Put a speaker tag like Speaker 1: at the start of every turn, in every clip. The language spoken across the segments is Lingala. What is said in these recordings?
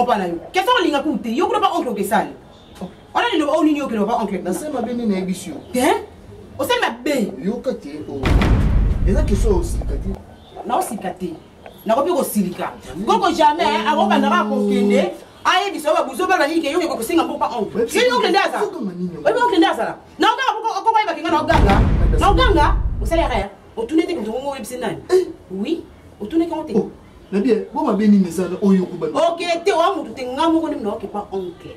Speaker 1: opa na yo kesa olinga kutu te yo kuna ba oncle okesali wana liloba oyo nini okende ba oncle nasali mabe nini nayebisi
Speaker 2: yo te
Speaker 1: osali mabe yoka te oh.
Speaker 2: eza kesho osika te naosika
Speaker 1: te nakomi kosilika koko jamais eh, akobanda kaka kokende ayebisa oyo babuzo bana nini keyoki kokosenga mboka on yebi okende azala oyebi okende azala naoganga koko ayebaki nga naoganga naoganga osali yaka ya otuni ete moto ngongo oyebisi nani eh. oui otuni kango te oh, na bien bo
Speaker 2: mabe nini ezala oyo okobanda oke te oya motu
Speaker 1: te nga moko nde mnaoke pa oncle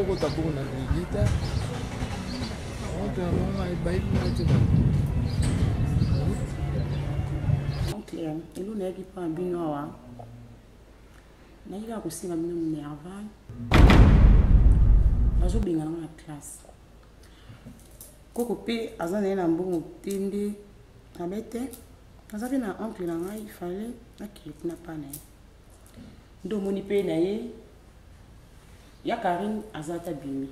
Speaker 2: okota bongo na lilita otamama ebayi matema
Speaker 1: elo nayaki mpo na bino awa nayaki kaka kosenga bino minerval bazobenga nango na classe koko mpe aza na ye na mbongo te nde abe te aza mpe na oncle na ngai fale akili kuna mpa na ye ndo moni pe na ye ya karine aza ata bimi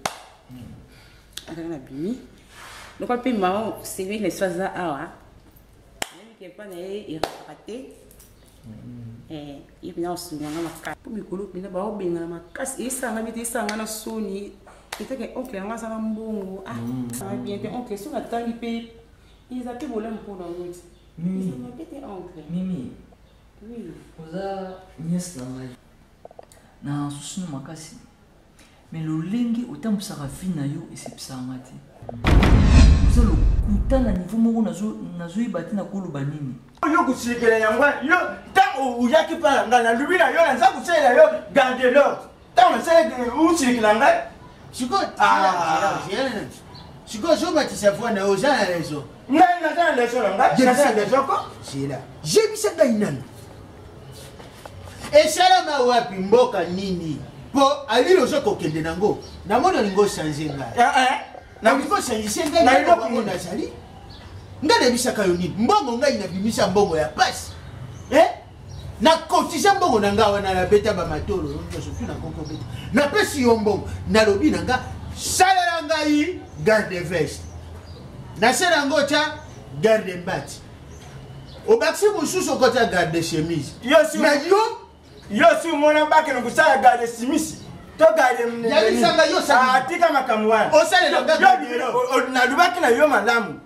Speaker 1: azalaki na bimi lokola mpe mama sebe na biso aza awa ayebiki epa na ye erakaka te ye mpena osunganga makasi mpo mikolo mpena baobengana makasi esanga bite esanga na soni eteke oncle yango aza na mbongo ah mm. bien te oncle soki atangi mpe eza mpe bolamu mpo na yo ti mm. eza mabe te
Speaker 3: oncle
Speaker 1: mimi Oui, oza
Speaker 3: nièce na ngai. Na susu na makasi. Mais lolenge otambusaka vie na yo esepisa nga te. Oza lokuta na niveau moko nazoyeba te nakoloba nini. Yo kosilikela
Speaker 4: yango yo ntango oyaki mpa na ngai nalobi na yo naza kosalela yo garde l'ordre. ntango nasalaki musiki na ngai sikoyo ah.
Speaker 2: sikoyo zobatisa foi na oza na raison ngai naza na raison na ngai naza na
Speaker 4: raison ko sila jebisa
Speaker 2: ngai nanu esalama wapi mboka nini mpo alili oza kokende nango namona olingi ochange ngai eh, eh. nalingi ochangise ngai nayobango nazali ngai nayebisaka yo nini mbongo ngai nabimisa mbongo ya pasi eh? na kotisa mbongo na ngai wana nabeta bamatolo nyonso tu nakoki obeta napesi yo mbongo nalobi na ngai salela ngai garde veste nasala yango otya garde mbati obakisi mosusu okotya garde chemise na yo
Speaker 4: yo si omona bakende kosala garde simisi togadeatika
Speaker 2: ah, makambo
Speaker 4: wana
Speaker 2: nalobaki na yo
Speaker 4: malamu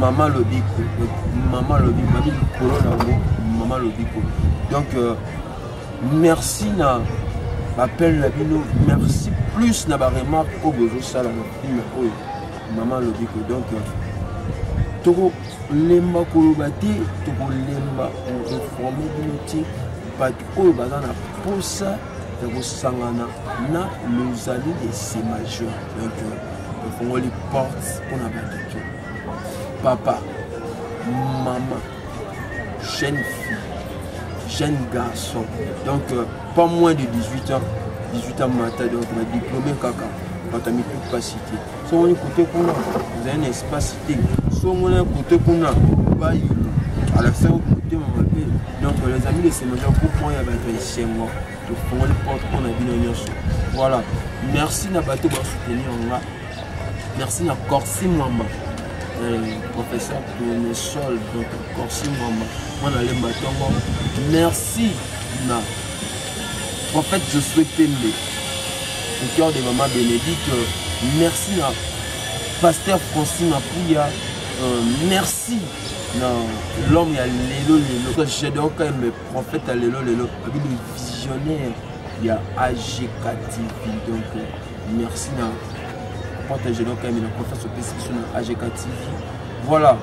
Speaker 5: mama lobiko mama lobiko babi likolo na yango mama lobiko donc euh, merci na bapele na bino merci plus na baremarque oyo bozosala na filme oyo mama lobiko donc euh, tokolemba koloba te tokolemba koreforme bino te bato oyo baza na mposa ekosangana na lozali de se majeur donc efongoli porte mpo na bato to papa mama jeune fille jeune garçon donc euh, pas moins de 18 ans 18 ans mata donc na diplôme kaka bato ya mituka cité songoni kote kuna ezali na espace te songona kote kuna bayi alakisa ko motema mabe donc les amis de semanja groupe moko ya bato ya esengo tofongoli porte mpo na bino nyonso voilà merci na bato basoutenir nga merci na corsi mwamba euh, professeur tournesol donc corsi mwamba mwana lemba ntongo merci na Prophète Josué Pembe, au cœur de Maman Bénédicte, merci na Pasteur Francine Apouya, euh, merci na l'homme ya lelo lelo. J'adore quand même prophète ya lelo lelo, abi le visionnaire ya AGK TV. Donc euh, merci na prophète J'adore quand même na confiance au PCQ sur AGK TV. Voilà.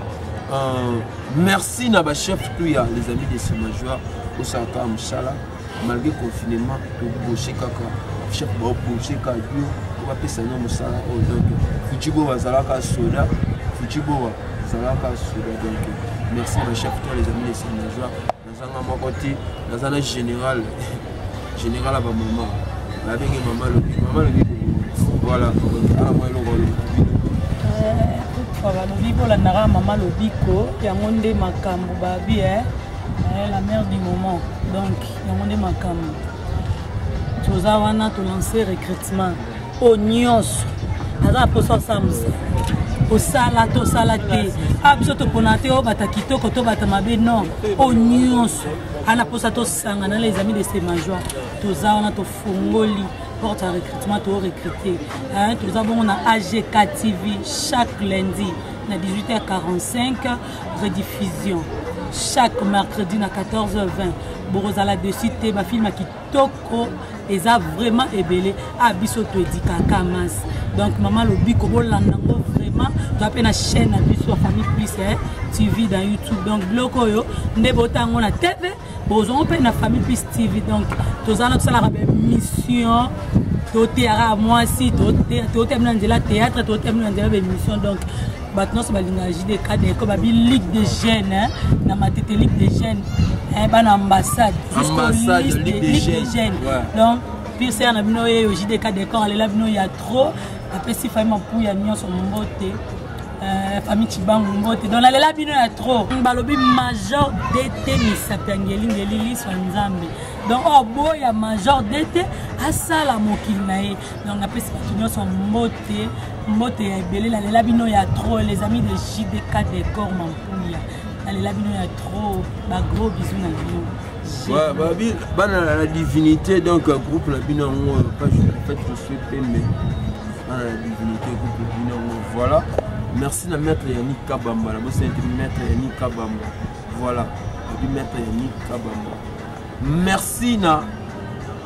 Speaker 5: Euh, merci na ba chef tout ya les amis de Sima Joie osalaka mosala malgré confinement toboshe kaka chef baboshe kaka yo bapesa no mosala oyo donc futi boa azalaka soda futi boa azalaka soda donc merci na chef tout les amis de Sima Joie nazanga moko te naza na général général ya bamama nabenge mama lobi mama lobi voilà ana mwa eloko alobi
Speaker 6: balobi bolandaka mama lobiko yango nde makambo babi eh, eh, la mère du moment donc yango nde makambo toza wana tolanse recrutement oyo nyonso aza na mposa osala mosala osala tosala te a ah, biso topona te obata oh, kitoko tobata mabe non oyo oh, nyonso ana mposa tosangana les amis de se majoie toza wana tofongoli porte ya recrutement to recrute toza bongo na agk tv chaque lundi na 18h45 rediffusion chaque mercredi na 14h20 bokozala dessus te bafilme kitoko eza vraiment ebele a ah, biso toedikaka mas donc mama lobiko bolanda yango vraiment toa mpe na chaîne na biso ya famille plus eh, tv dans youtube donc biloko oyo nde bota yango na tv bozwango mpe na famille plus tv donc toza na tosalaka bamission toteyaka mwasi totembi na nzela théâtre totembi na nzela baémission donc bato nyonso balingaka jide kade ko babi ligue de jeune hein, na matete ligue de jeune hein, bana ambassade ambassade ligue
Speaker 5: de jeune donc
Speaker 6: pire sere na bino yeyo jide kade kor alela bino ya trop apesi fami mapuya nyonso mbote Euh, famille chibangu mbote donc nalela bino ya trop balobi major dt misapi ya ngelingeli liswa nzambe donc oyo oh, boya major dt asala mokili na ye donc napesi bato nyonso mbote mbote ya ebele nalela bino ya trop les amis de jdk de cor mampuya nalela bino ya trop bagros bisu na bino
Speaker 5: bana na divinité donc groupe na bino yango page fait je suis pembe bana na divinité groupe na bino yango voilà merci na maître yannick kabamba na bosani te maître yannick kabamba voilà obi maître yannick kabamba merci na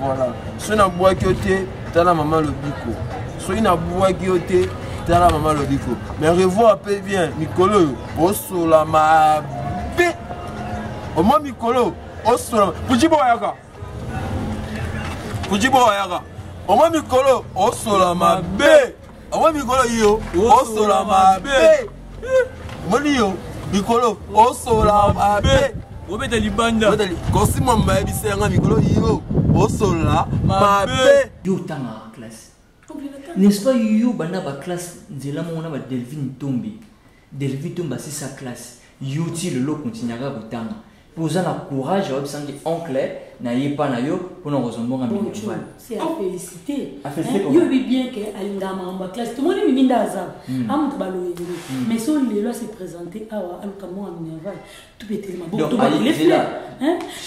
Speaker 5: Voilà. Soki nabwaki yo te tala mama lobiko soki nabwaki yo te tala mama lobiko mais revoir mpe bien mikolo oyo osola mabe omwa mikolo osola pujibo ayaka pujibo ayaka omwa mikolo osola mabe omoni mikolo yo osola mabe omoni yo mikolo osola mabe obeta libanda kosima mayebisa yanga mikolo yo osola mabe yo otangaka classe
Speaker 3: n'est-ce pas yo banda ba classe nzela moko na ba delvine tombi Delvie Tumba si sa classe yo ti lelo continue kaka kotanga mpo oza na courage ya oyebisa nde oncle na ye epa na yo mpo na kozwa mbongo minerval
Speaker 6: yoyebi bien ke alingaka makambo ya classe tomoni mininda aza amoto baloyenge mais so lelo ase présente awa aluka mbongo ya minerval tubetele maboko tobakile fle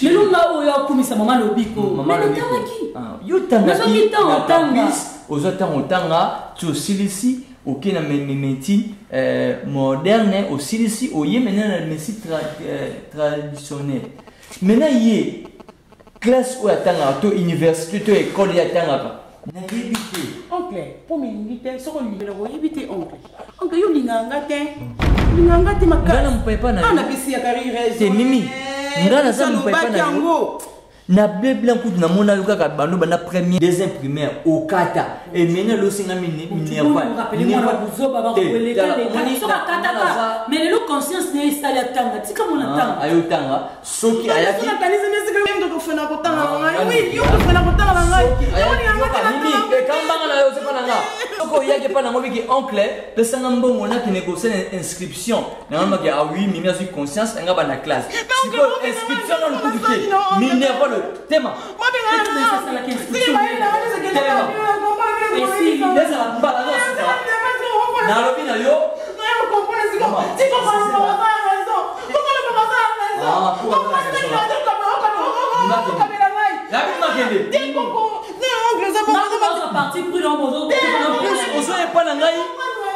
Speaker 6: lelo nga oyo akumisa mama lobiko natamaki nazwaki ntango
Speaker 3: otanga
Speaker 6: ozwa ntango
Speaker 3: otanga ti osilisi oke na médecine euh, moderne osilisi oye maintenant na médecine euh, traditionnelle maintenant ye classe oyo atangaka to université to ekole ye atangaka nayebi te oncle mpo milingi
Speaker 1: te soki olingela koyebi te oncle oncle yo olingaka nga te olingaka nga te makana mopepa na na bisi ya
Speaker 3: karirete
Speaker 1: mimi
Speaker 3: eh, nga naza mopepa na yango na bebla kutu namona yo kaka bando banda premier deuxième primaire okata emene losinga
Speaker 6: minervaayotanga
Speaker 3: soki ayaki nakanisi nde sika yo ndoko fona kotanga na ngai wi yo kofona kotanga na ngai nini ekambanga na yo ozepa na nga soki oyaki epa nango biki oncle pesanga mbongo nakende kosala inscription nanga maki a ah wi mimi azwi conscience anga banda classe sikoyo inscription nanu kutu te minervalo tema nalobi na yo ozo epa na ngai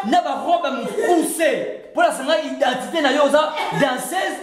Speaker 3: na barobe ya mokuse mpo nasanga identité na yo oza danseuse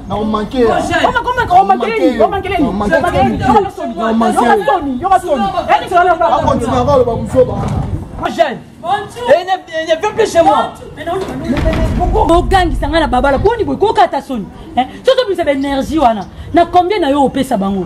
Speaker 3: bogangisa
Speaker 6: ngai na babala boni boye kokata soni soki obimisa baenergie wana na combien na yo opesa bango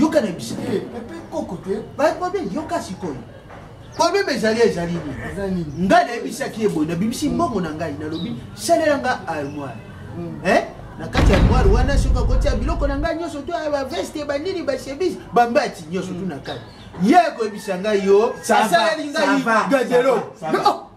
Speaker 2: yoka na biso eh, pepe koko te babobe yoka sikoyo probleme ezali ezali nini ngai nayebisaki ye boye nabimisi mbongo na ngai nalobi salela nga armoire hmm. eh? na kati ya armoire wana soki akotia biloko na ngai nyonso to eh, baveste banini bachemise bambati nyonso tu na kati ye akoyebisa ngai yo asaleli ngai gadelo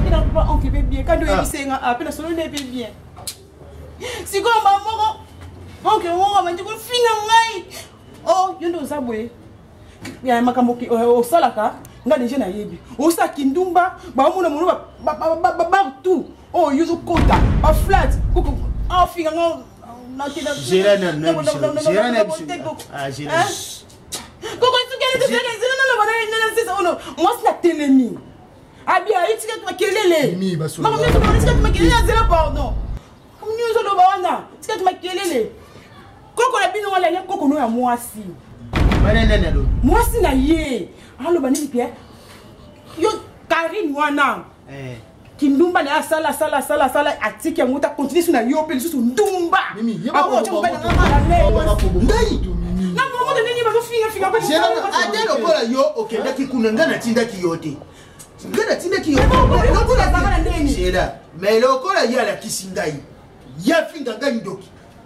Speaker 2: Mpe na kupa onke mpe bien, kando oyebise nga ape na solo ne mpe bien. Sikoyo mama moko onke moko abandi kofinga ngai. Oh, yo nde oza boye. Ya makambo osalaka nga deja nayebi. Osa kindumba, baomona mono ba ba ba ba ba tout. Oh, yo zokota, ba flat, koko afinga nga. Gérard na na biso. Gérard na biso. Ah, Gérard. mwasi na telemi abia itika makelele makelele azela pardon nyonso oloba wana tika ti makelele koko na bino wana ye koko no ya mwasi mwasi na ye aloba nini pia yo karine wana eh. kindumba na ye asala asala asala asala atiki yango ta continue su na yo mpe lisusu ndumba akootya mobali na ngai malalei na momoto ndenge bazofingafinga ata lokola yo okendaki kuna ngai natindaki yo te ngai natindaki yo mais lokola ye alakisi ngai ye afinga ngai ndoki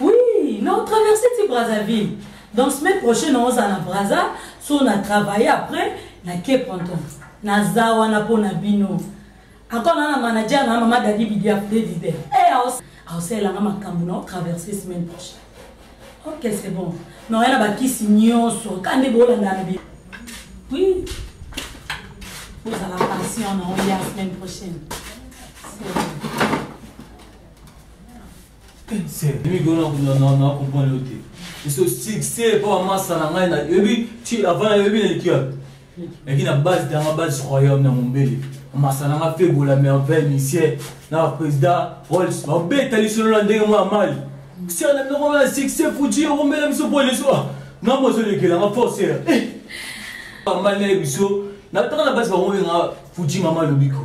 Speaker 6: Oui, non, traverser ti Brazzaville. Donc semaine prochaine on sera na Brazza, so on a travaillé après na Cape Anton. Na zawa na pona bino. Encore na manager na maman Daddy Bidia Freddy. Eh, au sel na makambo na traverser semaine prochaine. Ok, c'est bon. Mais on a ba kisi nyoso, kande bola na bi. Oui. Vous allez passer en la semaine prochaine. C'est bon.
Speaker 3: Mimi gona kuna na na comprendre yo te. Biso succès po amasa na ngai na yebi ti avant na yebi na likia. Eki na base danga base royaume na mombele. Amasa na ngai fait bola merveille monsieur na président Rolls. Ba beta lisolo na ndenge mwa mali. Sir na ndeko na succès fuji yo mbele biso po leso. Na mo zo lekela nga force. Eh. Mali na biso na tanga na base ba mo nga fuji mama lobiko.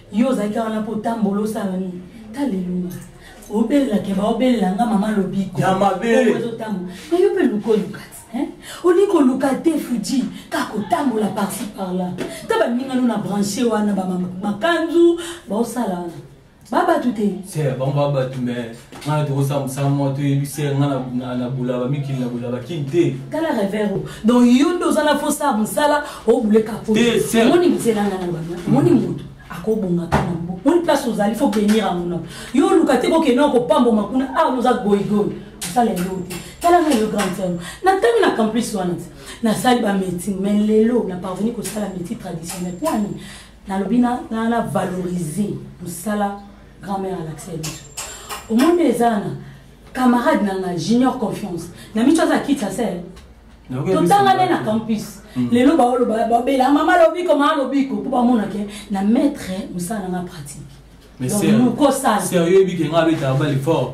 Speaker 6: yo ozalaki wana mpo otambolo osala nini talelunga obelela keba obelela nga mama lobiko ya mabele
Speaker 3: ezotambola na yo mpe
Speaker 6: luka oluka te olingi koluka te fuji kaka kotambola parci parla ta baninga no na branche wana bamakanzu baosala wana babatu te
Speaker 3: ngai tokosala mosala moko toyebisi ye ngai na bulaba mikili na bulaba kini te tala revero
Speaker 6: donc yo nde oza na fosala mosala obuleka omoni nzela ngai na bana omoni moto akobongaka na mbo moni place ozali fo benir yango na yo oluka te kokende na kopamboma kuna awa ah, oza goigoi osala eloo te tala ngai yo grande sœur natangi na campus wana te nasali bamédecine mais lelo na parvenu kosala médecine traditionnel mpo ani nalobi na valoriser mosala grand mère alakisa biso omoni eza na camarade na nga junior confiance na miso aza kitsa se totanga nde na campus hmm. lelo baoloba babela mama lobiko mama lobiko mpo bamona ke na maître mosala na nga pratique donc
Speaker 3: nokosala sérieux ebike nga abetaka bale fort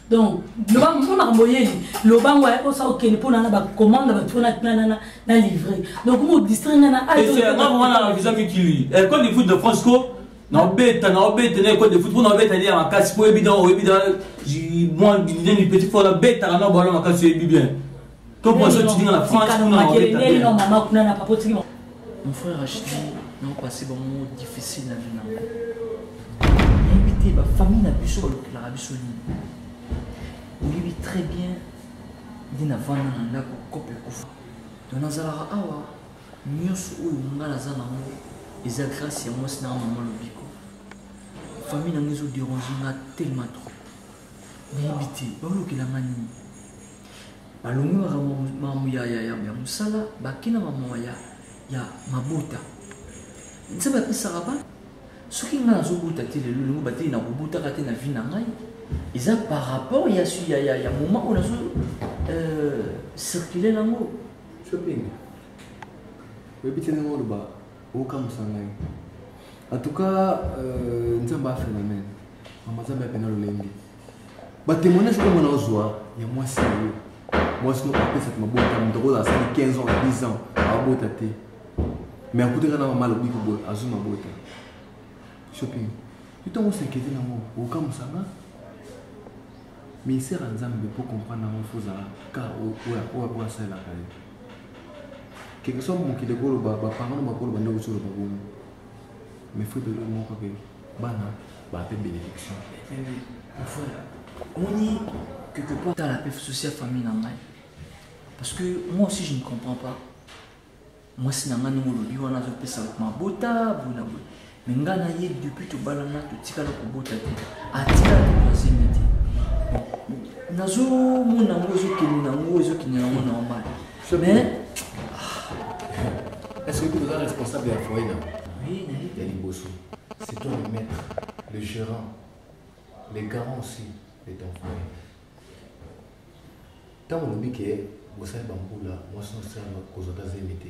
Speaker 6: donc loba mpo makambo oyeli loba ngo osa okende mpo nana bacommande bato mpona nanana na livre donc mo distrai nga na wana
Speaker 3: visa mikili ecole de foot de france ko naobeta naobeta na ecole de foot mpo naobeta lia makasi mpo oyebi na oyebi na mwa nini petit fo nabetaka na bwala makasi oyebi bien to po azo tidinga na France
Speaker 6: kuna na Angleterre neli
Speaker 3: no mama kuna na papa tiki mon frère Achidi na passé ba
Speaker 7: mo difficile na vie na nga yebi te ba famille na biso balokelaka biso nini oyebi très bien nde navanda na ndako kope ekufa to nazalaka awa nyonso oyo nga naza nango eza grâce ya mwasi na mama lobiko famille na nga ezoderange nga tellement trop nayebi te baolokela nga nini balongolaka makambo ya, ya, ya, ya mosala bakenda makambo ya, ya mabota nzambe apesaka ba soki ngai nazobota te lelo lelo batei nakobotaka te na vi na ngai eza par rapport ya, ya, ya, ya moment oyo nazo euh, circule nango shopping
Speaker 5: oyebi te ndenge oloba okamwisa ngai en tout cas euh, nzambe afela mene mama nzambe apena lolenge batemoignage oyo mwana ozwa ya mwasi na yo mwasi moko apesaka mabota moto akozala asali 15 ans 10 ans abota te me akutaka na mama alobi koboye azwi mabota shopping ntango osekete nango okamusanga ministère ya nzambe mpo comprendre yango fo ozala ka oyo asalelaka ye quelque soit mokili ekoloba baparano bakoloba nde ozoloba bongo mais fo ebele moko kake bana ba pe bénédiction
Speaker 7: oni quelque part tala pe souci ya famille na ngai parce que moi aussi je ne comprends pas mwasi na ngai ndenge olobi wana azopesa mabota boye na boye me ngai na ye depuis tobalana totikala kobota te atikala tokoasenga te nazomona yango ezokende na yango ezokende na yango normal mais ah,
Speaker 5: est-ce que tu es responsable ya foyer na oui nayebi ya
Speaker 7: liboso
Speaker 5: c'est toi le maître le gérant le garant aussi de ton foyer ntango olobi ke bosali bambula mwasi nosala kozwa ta zemi te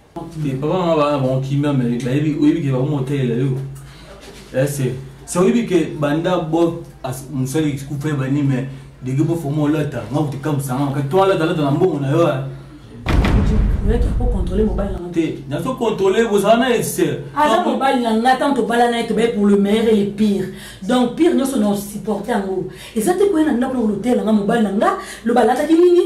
Speaker 5: Mais papa mama
Speaker 3: bana bango kimia me bayebi oyebi ke bakomotelela yo ese eh, se oyebi ke banda bo mosali kupe bani me dege bofoma olata nga kuti kamusanga maka to alata alata na mbongo na yo eh. te
Speaker 6: nazo contrôle
Speaker 7: bozala na ese aza mobali
Speaker 6: na nga ntango tobala na ye tobaye pour le meilleur et le pire donc pire nyonso na osupporte yango eza te koye na ndako na kolotela nga mobali na nga loba alataki nini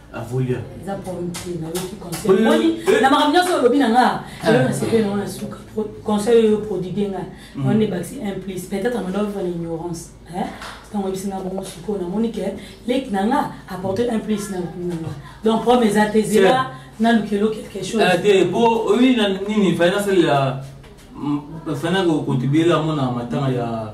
Speaker 7: avolia eza pomte nayoki conseil moni na makambo nyonso olobi na nga elo na sepele nango na suka conseil oyo prodigue nga wana nde bakisi un plus peut-être amanda ovivre na ignorance ntango oyebisi nga bongo sikoyo namoni ke leki na nga apporte un plus na nga donc problème eza te zela nalukelo quelque chose te po oyi na nini fai nasalela fai nakokontribuela mona matanga ya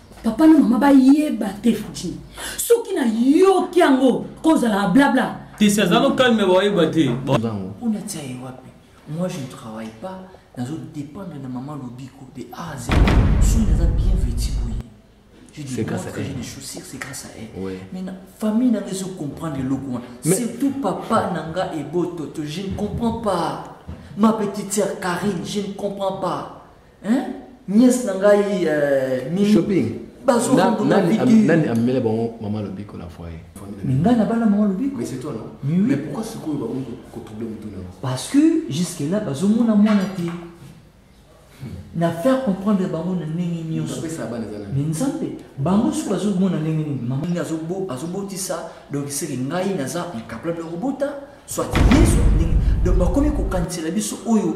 Speaker 7: papa na mama bayeba te futi soki nayoki yango kozala blabla te si aza no calme bayeba te mpona tia ye wapi moi je ne travaille pas nazo dépendre na mama lobiko de a z soki naza bien vêti boye Je dis, grâce à j'ai des chaussures, c'est grâce à elle. Ouais. Mais la famille n'a pas comprendre le logo. Mais... Surtout papa Nanga et Bototo, je ne comprends pas. Ma petite sœur Karine, je ne comprends pas. Hein? Nièce na ngai euh, mimi. Shopping. Bazo na, na, nani, nani amela bango mama lobiko na foyer. Mais ngai na bana mama lobiko. Mais c'est toi non? Mais, oui. Mais pourquoi ce qu'on va ko troubler mutu na? Parce que jusque là bazo mona mwana te. na faire comprendre bango na ndenge nyonso me nzambe bango soki bazomona ndenge nini mama nini azobotisa donc seke ngai naza incapable ya kobota soit yesu ndenge donc bakomi kokanisela biso oyo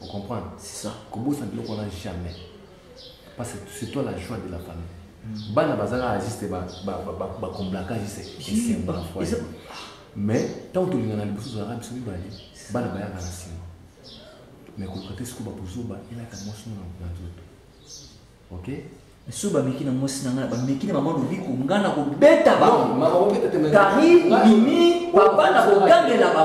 Speaker 7: Vous comprenez C'est ça. Kobosa biloko wana jamais. Parce que c'est toi la joie de la famille. Mm. Bana bazala juste ba ba ba ba, ba comblaka juste et c'est bon foi. Mais tant que l'on a le bousou arabe biso mibale bana baya kana sima. Mais ko kote siko ba bousou ba ela ka mwasi na na nzoto. OK Mais so ba meki na mwasi na nga ba meki na maman lobiko nga na ko beta ba. Non, maman ko beta te. Kari, mimi, papa na ko gangela ba.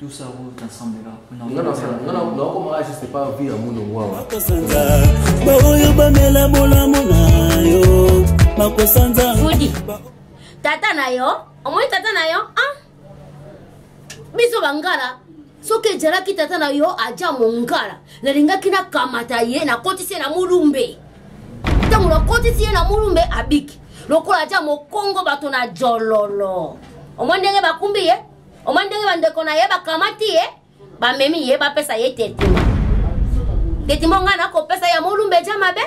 Speaker 7: Tout ça roule ensemble là. Nga na sala, nga na na
Speaker 8: koma aje c'est pas vie ya muno wawa. Ba oyo ba mela bolamu na
Speaker 9: yo. Bakosanza. Fudi. Tata na yo, omoni tata na yo? Ah. Biso bangala soki ejalaki tata na yo aja mongala nalingaki nakamata ye nakotisi ye na molumbe ntango nakotisi ye na molumbe abiki lokola aja mokongo bato na jololo omoi ndenge bakumbi ye omoni ndenge bandeko na ye bakamati ye bamemi ye bapesa ye tetima tetima ngai nakopesa ya molumba eja mabe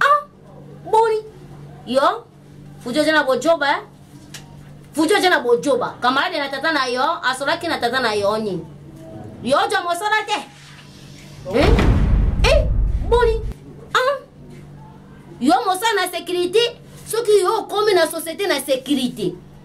Speaker 9: ah boni yo futi oja na bojoba eh? futi oja na bojoba kamarade na tata na yo asolaki na tata na yo nini yo oja mosala te eh? Eh? boni ah yo mosala na sécurité soki yo okomi na société na sécurité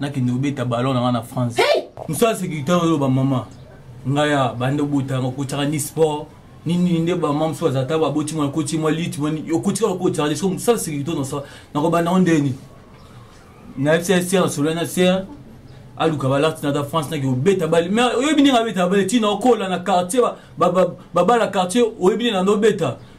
Speaker 3: nakende kobeta ballon na nga na france mosala sécurité oyo bamama ngai ya banda obota yango kotyaka ni sport nini nde bamama mosusu baza ta baboti mwana koti mwa lite mwani okotika lokotyaka leso mosala sécurité onosala nakobanda yango ndeni nayebisa ya sere nasolola na sere aluka balati nata france naki obeta bale me oyebi ndenge abeta bale ntina okola na quartier babala quartier oyebi ndenge nando obeta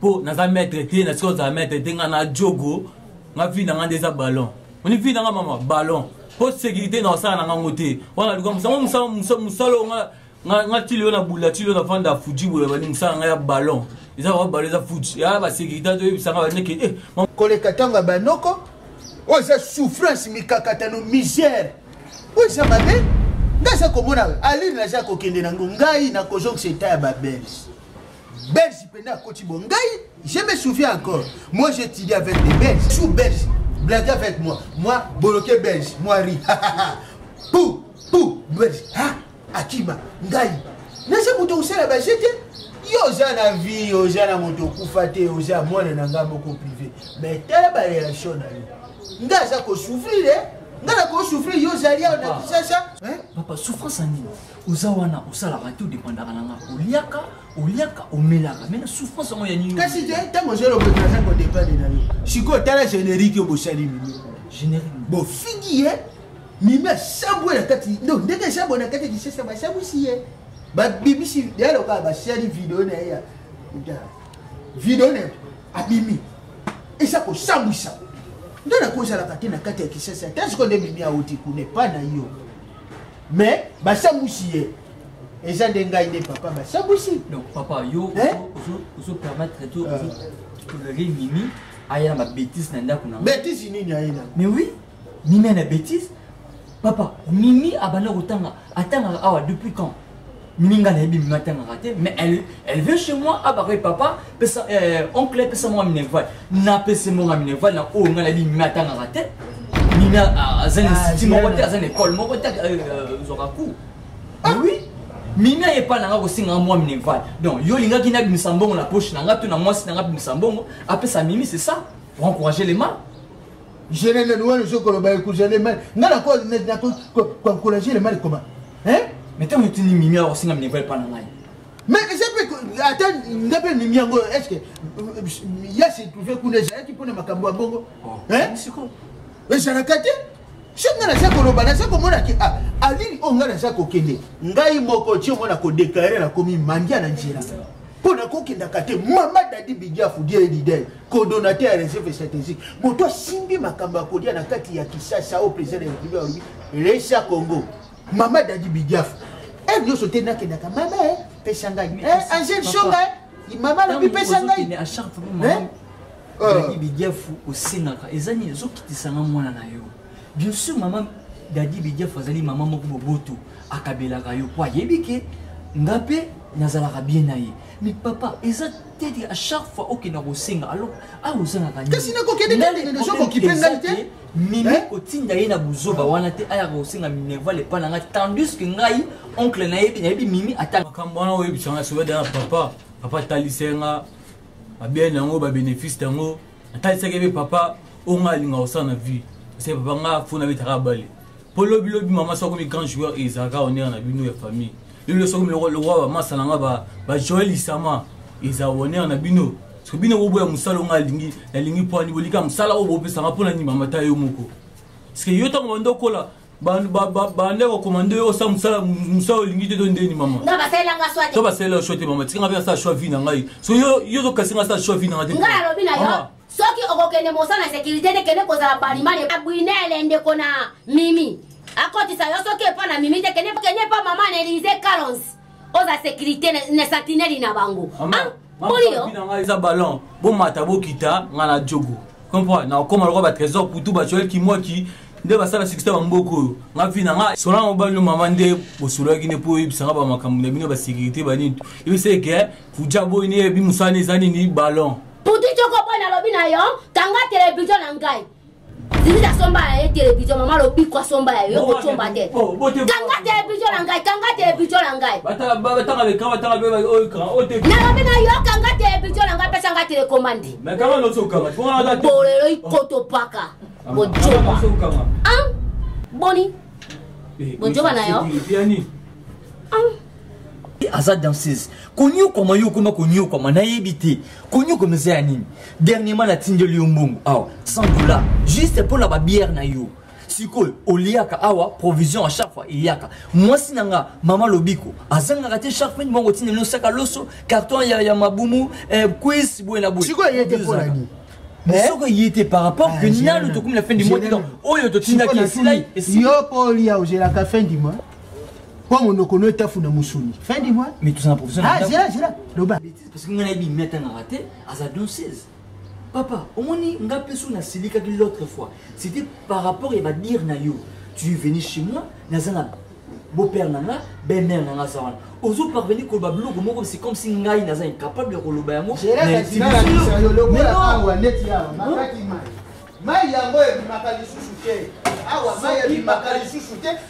Speaker 3: po naza maître te na sika ozala maître te nga na jogo nga vie na nga nde eza ballon oni vie na nga mama ballon po sécurité na osala na ngango te wana luka musango musala musala nga nga nga tili na bula tili na vanda fuji boye bani musala nga ya ballon eza ba ballon eza fuji ya ba sécurité to yebisa nga ba neke eh koleka tanga
Speaker 2: ba noko oyo eza souffrance mikakatano misère oyo eza mabe nga aza komona alire naza kokende nango ngai na kozongisa etat ya babelge belge penda akoti bo ngai je me souviens encore moi j'ai étudié avec des belges sous belge blague avec moi moi boloke belge moi ri pou pou belge ha akima ngai naza moto kosala baje te yo oza na vie oza na moto okufa te oza mwana na ngai moko privé mais tala bareaction na yo ngai aza kosouffrir eh? ngai nakosouffrir yo ozali awa na kisasa papa souffrance
Speaker 7: ya nini oza wana osalaka te odepandaka na nga oliaka oliaka omelaka me na souffrance yango ya nini kasi te ntango
Speaker 2: ozolobotaka kodepande na yo sikoyo tala générique oyo bosali mimi générique
Speaker 7: bofingi ye
Speaker 2: mimi asambwe na kati no ndenge esambwe na kati ya kisasa basambwisi ye babimisi yalo kaka basali video na ye ya video na abimi eza kosambwisa nde nakozalaka te na kati ya kisasa ta sikoyo nde mimi auti kuna epa na yo mais basambwisi ye eza nde ngai nde papa basambwisi donc papa yo
Speaker 7: ozopermettre to tolere mimi aya na babétise na ndako na bétise nini aye na
Speaker 2: mais oui
Speaker 7: mimi ana bétise papa mimi abanda kotanga atangaka awa depuis quand mininga na ye bimi matangaka te mais elle, elle veut chez moi abaka ah, ye papa pesa euh, oncle pesa monga minerval napesi monga minerval na oyo ngai na bimi matangaka te mimi aza na institut ah, moko te aza na école moko te euh, euh, zwaka cour ah. oui mimi aye epai na ngai kosengaka mwa minerval donc yo olingaki nabimisa mbongo na poche na ngai to na mwasi na ngai abimisa mbongo apesa mimi c'est ça pour encourager les mâles Général
Speaker 2: Noël ozo koloba ekozala mal. Nga na ko na ko ko encourager le mal comment? Hein? Mais tant que tu ni
Speaker 7: mimi alors singa mine pas na ngai. Mais ça
Speaker 2: peut attends nga pe mimi yango est-ce que euh, ya se trouver kuna ezala ki pona makambo ya bongo? Oh, hein? Siko. Ezala kate? soki ngai naza koloba naza komona ke ah, alini oyo ngai naza kokende ngai moko ti omona kodeklare nakomi mandia na nzela mpo nakokendaka te mama dadi bidiafu die lidel kodonate ya reserve stratégique moto asimbi makambo ya kolia na kati ya kisasa oyo président ya république alobi resa congo mama dadi bidiafa ere eh, nyonso te nakendaka mama eh, pesa ngai eh, angele songa mama alobi pesa ngai
Speaker 7: bidiafu osengaka eza nini ezokitisanga mwana na yo Bien sûr, maman Daddy Bidiaf azali maman moko boboto akabelaka yo po ayebi ke nga mpe nazalaka bien na ye mais papa eza te te à chaque fois okenda kosenga alors awa ozangaka kasi nakokende
Speaker 2: nakokipe ngai te mimi eh? kotinda
Speaker 7: ye na buzoba wana te ayaka kosenga minerval epai na ngai tandis que ngai oncle nayebi nayebi mimi ata makambo wana oyebisanga
Speaker 10: soki dana papa papa talisenga babene yango babénéfice yango natalisaki ebe papa oyo ngai alinga kosala na vie se papa ngai fo nabetaka bale mpo lobilobi mama soki akomi grand joueur ezalaka onere na bino ya famille lelo soki lokola bamasa na ngai bajoel isama eza onere na bino soki bino boboya mosala onga alingi nalingi mpo ani bolika mosala oyo bopesanga mpo na ndimamata yo moko parceke yo ntango banda okola bande kokoma nde osala mosala mosala olingi te to ndeni mama to
Speaker 9: basalela sho te mama
Speaker 10: tikanga mpe nasala sho vi na ngai so yo tokasi ngai asala sho vi na ngai te ngai alobi na yo
Speaker 9: soki okokende mosala na sécurité te kende kozala balimani abwinele ndeko na mimi akotisa yo soki epa na mimi te kende epa mama na elise calons oza sécurité na sentinelle na bango moliyo
Speaker 10: ah, eza ballon bomata bokita nga na jogo comprendre na okoma lokola batrésor putu bacoel kimwaki nde basala succès bamboko oyo nga vi na nga solanga mobali no mama nde bosololaki nde mpo oyebisa nga bamakambo na bino basécurité banini yebisa eke fuja boyi neyebi mosala ne eza nini ballon putu coko mpo
Speaker 9: nalobi na yo kanga televizio na ngai zizi asomba ya ye televizio mama lobiko asomba ya yo kocomba te kanga televizio na ngai kanga televizio na ngai
Speaker 10: nalobi na yo kanga
Speaker 9: televizio na ngai pesa ngai telekomandi
Speaker 10: bolelo ikotopaka
Speaker 9: bojoba boni bojoba na yo
Speaker 7: aza danseuse konyokwama yo okoma konyokwama nayebi te konyokwama eza ya nini dernièrement natindeli yo mbongo awa 100 dollar juste mpo na babiere na yo sikoyo oliaka awa provision à chaque fois eyaka mwasi na nga mama lobiko azangaka te chaque fin bango otinda no saka loso carton ya, ya mabumu eh, quiz boye na boye sikoyo eye te mpo
Speaker 2: na nini eh? soko ye
Speaker 7: te par rapport ah, que nanu tokomi na fin du mois donc oyo totindaki esilai yo mpo olia
Speaker 2: ozelaka fin du mois mpo monoko no etafuna mosuni fin du mois mais tozala professionnel ah
Speaker 7: zela zela loba
Speaker 2: parce que ngai nayebi mi
Speaker 7: atangaka te aza danseuse papa omoni nga mpe so nasilikaki l'autre fois c'était par rapport ya badire na yo tu es venu chez moi naza na beau-père na nga belle-mère na nga aza wana ozo parvenir koloba biloko moko c'est comme si ngai naza incapable ya koloba yango
Speaker 2: mai yango ebimaka lisusu te awa mai ebimaka lisusu te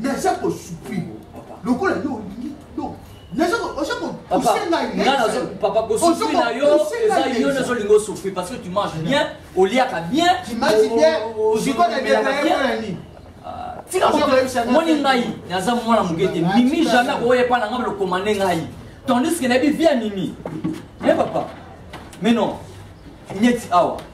Speaker 2: naza
Speaker 7: kosupri lokola yo olingi papa kosufri na yo eza yo nde ozolinga osufri parce que tu manges bien oliaka bien
Speaker 2: tika
Speaker 7: moni ngai naza mwana moke te mimi jamais akoya epai na ngai lokomande ngai tandis ke nayebi vie ya mimi e papa mais non neti awa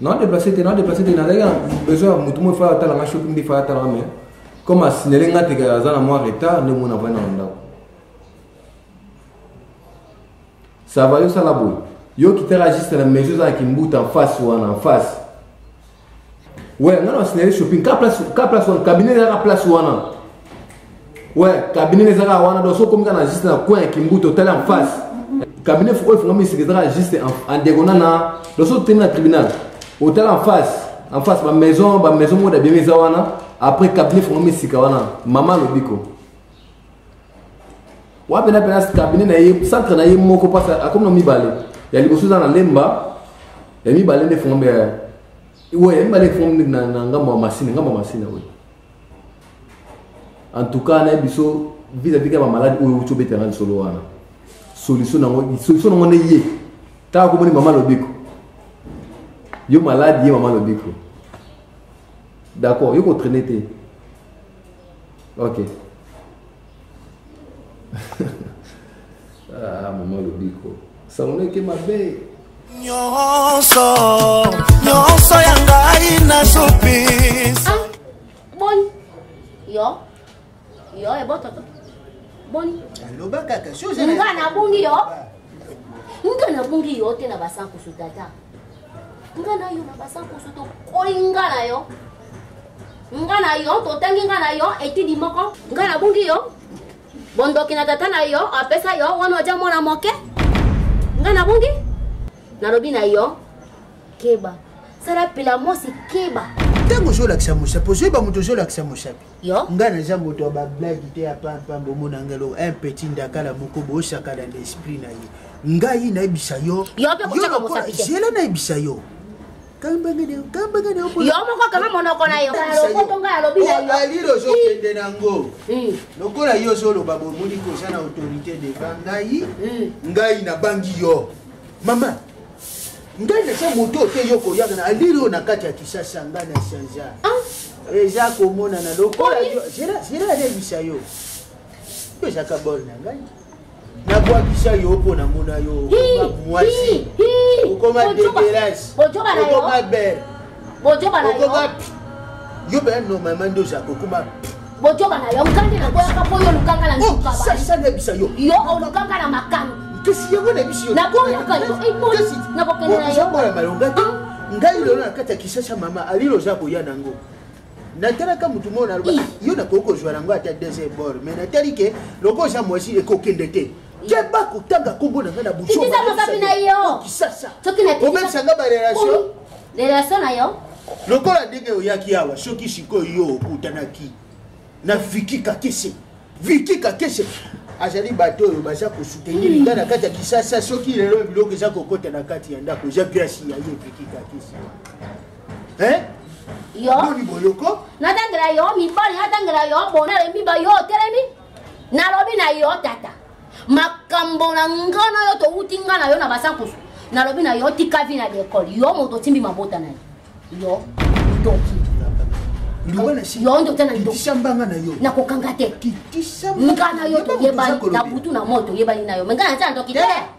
Speaker 8: na déplacer te na déplacer te nazalaki na besoin ya motu moi faya atala nga shopping nde faya atala nga mais comme asignale nga teke aza na mwa retard nde mona vandi na ndako ça va yosala boye yo kitala juste na maison eza na kimbuta en face wana en face we nga na asignale shopping ka place wana cabinet eza na place wana Ouais, cabinet les ara wana donc so comme kana juste na coin kimbuto tala en face. Cabinet faut faut ngami sikizaka juste en diagonale na donc so tena tribunal. Au tala en face, en face ba maison, ba maison moda bien eza wana. Après cabinet faut ngami sika wana. Maman lobiko. Wapi na pena cabinet na ye centre na ye moko parce à comme no mibale. Ya liboso za na lemba. Ya mibale ne faut ngami. Ouais, mibale faut ngami na ngamba masine, ngamba masine oui. en tout cas nayebi biso vis-à-vis ya bamaladi oyo outi obetanga lisolo wana solution nango solution nango nde ye kaka komoni mama lobiko yo maladi ye mama lobiko d'accord yo kotraine te ok ah, mama lobiko sangoneke mabe nyonso
Speaker 11: nyonso ya ngai na zupis ah,
Speaker 9: boni yo yo ebototo boni aloba
Speaker 2: kaka nga nabungi
Speaker 9: yo nga nabungi yo te na basankusu tata nga na yo na basankoso tokoli nga na yo nga na yo totangi nga na yo etidi moko nga nabungi yo bondoki na tata na yo apesa yo wana oja mwana moke nga nabungi nalobi na yo keba sala pelamosi keba ntango ozolakisa
Speaker 2: mosapi ozoyeba moto ozolakisa mosapi ngai naza moto
Speaker 9: ya
Speaker 2: bablage te ya pampambe omona ngai eloko un petit ndakala moko boosaka na l'esprit na ye ngai nayebisa yo
Speaker 9: zela nayebisa yo alirozokende nango
Speaker 2: lokola yo ozoloba bomoni koza na autorité devant ngai ngai nabangi yo mama ngai naza moto oyo te yo koyaka na alili oyo na kati ya kisasa ngai na chanza ah. eza komonana lokola zela alebisa yo yo ezaka bol na ngai nabwakisa yo mpo namona yo mwasi okoma deberase okoma bere okoma yo mpe normalement nde ozaka okoma bojoba na yo
Speaker 9: nkande na boyaka mpo yo lukanga na nsukasanebisa yo yo
Speaker 2: olukanga na
Speaker 9: makano kasi yango na biso
Speaker 2: naboyaka
Speaker 9: yo nakokende na yo mwana malonga te
Speaker 2: ngai lelo na kati ya kisasa mama alilo oza koya nango natalaka motu moko naloba yo nakoki kozwa nango ata deuxième bord mais natali ke loko oza mwasi ekokende te keba kotanga nkombo na ngai na busoki
Speaker 9: na yo
Speaker 2: obebisa
Speaker 9: ngai barelation
Speaker 2: relation na yo
Speaker 9: lokola ndenge
Speaker 2: oyaki awa soki sikoyo yo okutanaki na viki kakese viki kakese azali bato oyo baza kosoutenir nga na kati ya kisasa soki lelo biloko eza kokota na kati ya ndako eza grasi ya ye viki kakese boni
Speaker 9: boyoko
Speaker 2: natangela yo
Speaker 9: mibali natangela yo bona lembi bayo otelemi nalobi na yo tata makambo na nga na yo towuti nga na yo na basankusu nalobi na yo tika vi na lekole yo moto otimbi mabota na ye yo ndoki
Speaker 2: yo nde otya na ndokisambanga
Speaker 9: na yo
Speaker 2: nakokanga te
Speaker 9: nga na
Speaker 2: yo toyebani
Speaker 9: na butu na moi toyebani na yo me nga natya na ndoki te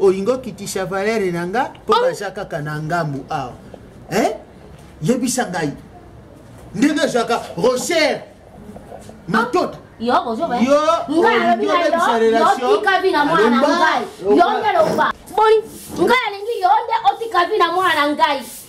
Speaker 2: olingi okitisha valere na nga mpo oh. baza kaka na ngambu awa eh? yebisa ngai ndenge ezwaka rocher matota
Speaker 9: yo ozoyotika
Speaker 2: vi na mwana na
Speaker 9: ngai yo nde loba boni ngai alingi yo nde otika vi na mwana na ngai